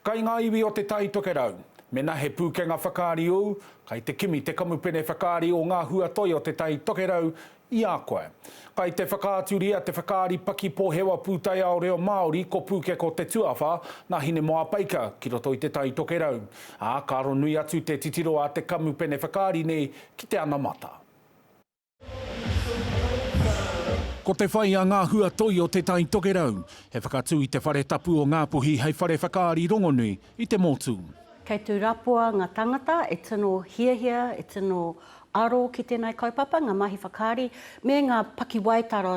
Kai ngā iwi o Te Tai Tokerau. Mena he pūkenga whakaari ū, kai te kimi te kamupene whakaari o ngā hua toi o Te Tai Tokerau i a koe. Kai te whakaaturia te whakaari paki pohewa pūtaiao reo Māori ko Pūkeko Te Tuawha nā Hinemoapaika ki roto i Te Tai Tokerau, ā, ka ronui atu te titiro a te kamupene whakaari nei ki te anamata. Ko te whai a ngā hua toi o Te Tai Tokerau, he whakatū i te whare tapu o Ngāpuhi hei whare whakaari rongonui i te motu. Kei tū rapua ngā tāngata e tino hiahia, e tino aro ki tēnei kaupapa, ngā mahi whakaari, me ngā pakiwaitara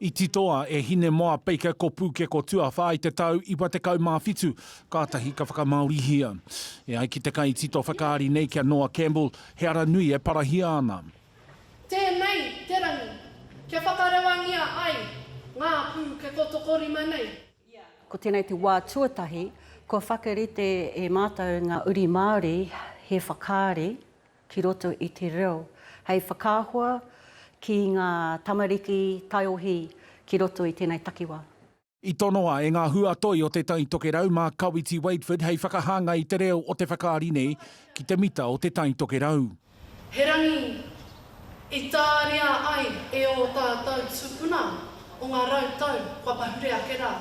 I titoa e Hinemoapeike ko Pūkeko Tuawhā i te tau 97, kātahi ka whakamāorihia. E ai ki te kaitito whakaari nei ki a Noah Campbell, he ara nui e parahia ana. Tēnei te rangi kia whakarewangia ai ngā pūkeko tokorima nei. Ko tēnei te wā tuatahi kua whakarite e mātou ngā uri Māori he whakaari ki roto i te reo, hei whakaahua ki ngā tamariki taiohi ki roto i tēnei takiwā. I tonoa e ngā hua toi o Te Tai Tokerau mā Kawiti Wakeford hei whakahāngai i te reo o te whakaari nei ki te mita o Te Tai Tokerau. He rangi i tāria ai e ō tātou tūpuna o ngā rau tau kua pahure ake rā.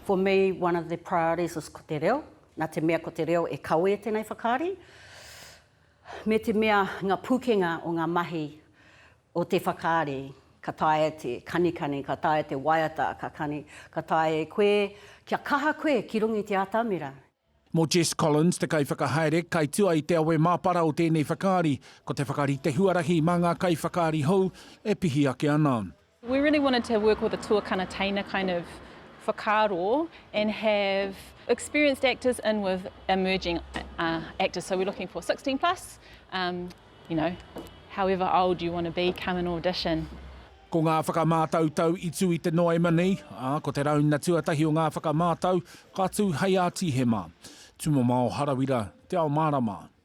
For me, one of the priorities is ko te reo, nā te mea ko te reo e kawē tēnei whakaari. Me te mea ngā pūkenga o ngā mahi o te whakaari, ka taea te kanikani, ka taea te waiata, ka kani, ka taea e koe kia kaha koe ki runga i te atamira. Mō Jess Collins, te kaiwhakahaere, kaitua i te awe māpara o tēnei whakaari, ko te whakarite huarahi mā ngā kaiwhakaari hou e pihi ake ana. We really wanted to work with a tuakana teina kind of whakaaro and have experienced actors in with emerging actors, so we're looking for sixteen plus, you know, however old you want to be, come and audition. Ko ngā whakamātautau i tū i te Noema nei, ā, ko te rauna tuatahi o ngā whakamātau ka tū hei a Tīhema, Tumamao Harawira, Te Ao Mārama.